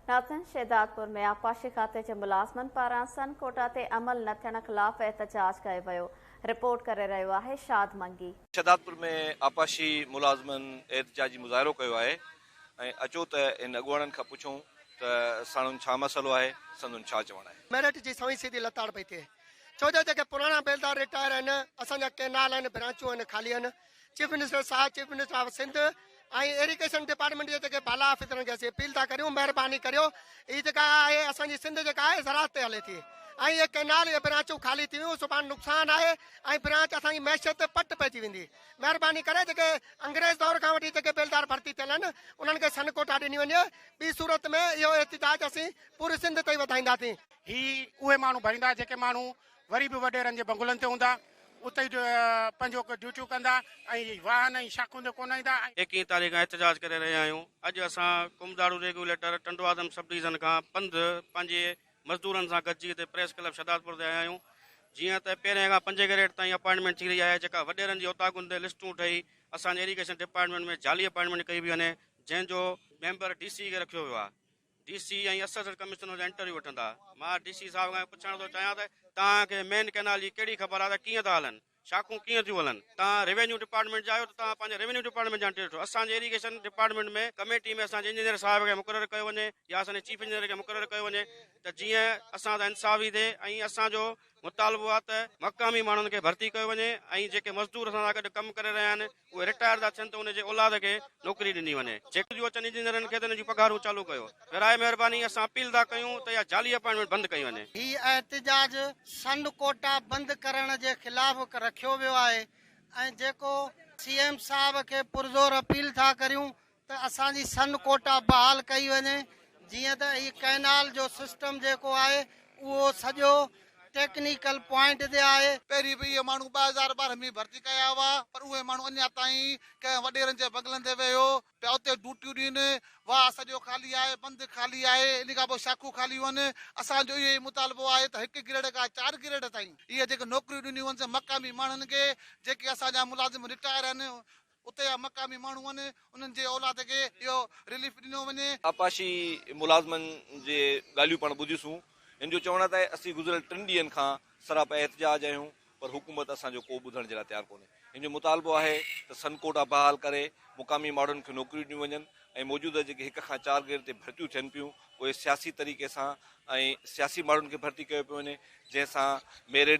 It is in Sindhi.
ناظرين شهدادپور ۾ آبپاشي کاتي جي ملازمن پاران سن ڪوٽا تي عمل نه ٿيڻ خلاف احتجاج ڪيو ويو رپورٽ ڪري رهيو آهي شاد منگي. شهدادپور ۾ آبپاشي ملازمن احتجاجي مظاهرو ڪيو آهي ۽ اچو ته هن اڳواڻن کان پڇون ته ساڻن ڇا مسئلو آهي سندن ڇا چوڻ آهي. ميرٽ جي سوين سيڌي لتاڙ پئي ٿئي ڇو جو جيڪي پراڻا بيلدار رٽائر آهن اسان جا ڪينال آهن برانچون آهن خالي آهن چيف منسٽر صاحب chief minister of Sindh ۽ irrigation department جي جيڪي بالا آفيسرن کي اسين اپيل ٿا ڪريون مهرباني ڪريو هي جيڪا آهي اسان جي سنڌ جيڪا آهي زراعت تي هلي ٿي ۽ اهي ڪئنال اهي برانچون خالي ٿي ويون سڀاڻي نقصان آهي ۽ برانچ اسان جي معيشت تي پٽ پئجي ويندي مهرباني ڪري جيڪي انگريز دور کان وٺي جيڪي بيلدار ڀرتي ٿيل آهن انهن کي سن ڪوٽا ڏني وڃي ٻي صورت ۾ اهو احتجاج اسين پوري سنڌ تائين وڌائينداسين هي اهي ماڻهو ڀريندا جيڪي ماڻهو وري به وڏيرن جي بنگلن تي هوندا، اتي ئي پنهنجو ڊيوٽيون ڪندا ۽ واهن ۽ شاخون تي ڪونه ايندا. ايڪيهين تاريخ کان احتجاج ڪري رهيا آهيون، اڄ اسان Komdaro regulator Tando Adam sub division کان پنڌ پنهنجي مزدورن سان گڏجي اتي پريس ڪلب شهدادپور تي آيا آهيون، جيئن ته پهرين کان پنجين ڪئريٽ تائين اپائنٽمينٽ ٿي رهي آهي، جيڪا وڏيرن جي اوطاقن تي لسٽون ٺهي اسان جي ايريگيشن ڊپارٽمينٽ ۾ جعلي اپائنٽمينٽ ڪئي ويئي وڃي، جنهن جو ميمبر ڊي سي کي رکيو ويو آهي. ڊي سي ۽ اسسٽنٽ ڪمشنر جا انٽرويو وٺندا. مان ڊي سي صاحب کان پڇڻ ٿو چاهيان ته توهان کي مين ڪئنال جي ڪهڙي خبر آهي ته ڪيئن ٿا هلن، شاخون ڪيئن ٿيون هلن. توهان روينيو ڊپارٽمينٽ جا آهيو ته توهان پنهنجي روينيو ڊپارٽمينٽ جا انٽرويو وٺو. اسان جي اريگيشن ڊپارٽمينٽ ۾ ڪميٽي ۾ اسان جي انجنيئر صاحب کي مقرر ڪيو وڃي يا اسان جي چيف انجنيئر کي مقرر ڪيو وڃي ته جيئن اسان سان انصافي ٿئي ۽ اسان جو مطالبو آهي ته مقامي ماڻهن کي ڀرتي ڪيو وڃي ۽ جيڪي مزدور اسان سان گڏ ڪم ڪري رهيا آهن اهي رٽائر ٿا ٿين ته ان جي اولاد کي نوڪري ڏني وڃي جيڪي ٿيون اچن انجنيئرن کي ته انهن جون پگهارون چالو ڪيو براء مهرباني اسان اپيل ٿا ڪيون ته اها جعلي اپائنٽمينٽ بند ڪئي وڃي. هي احتجاج سنڌ ڪوٽا بند ڪرڻ جي خلاف رکيو ويو آهي ۽ جيڪو سي ايم صاحب کي پرزور اپيل ٿا ڪريون ته اسان جي سن ڪوٽا بحال ڪئي وڃي جيئن ته هي ڪئنال جو سسٽم جيڪو آهي اهو سڄو ٽيڪنيڪل پوائنٽ تي آهي. پهرين به اهي ماڻهو ٻه هزار ٻارهن ۾ ڀرتي ڪيا هئا پر اهي ماڻهو اڃا تائين ڪنهن وڏيرن جي بنگلن تي ويهو پيا اتي ڊوٽيون ڏين. واهه سڄو خالي آهي، بند خالي آهي، ان کان پوء شاخون خاليون آهن. اسان جو اهو ئي مطالبو آهي ته هڪ گريڊ کان چار گريڊ تائين اهي جيڪي نوڪريون ڏنيون وڃن سي مقامي ماڻهن کي جيڪي اسان جا ملازم رٽائر آهن اتي جا مقامي ماڻهو آهن انهن جي اولاد کي اهو رليف ڏنو وڃي. آبپاشي ملازمن جي ڳالهيون پڻ ٻڌيسون هن جو چوڻ آهي ته اسين گذريل ٽن ڏينهن کان سراپا احتجاج آهيون پر حڪومت اسان جو ڪو ٻڌڻ جي لاء تيار ڪونهي هن جو مطالبو آهي ته سن ڪوٽا بحال ڪري مقامي ماڻهن کي نوڪريون ڏنيون وڃن ۽ موجوده جيڪي هڪ کان چار گريڊ تي ڀرتيون ٿين پيون اهي سياسي طريقي سان ۽ سياسي ماڻهن کي ڀرتي ڪيو پيو وڃي جنهن سان ميرٽ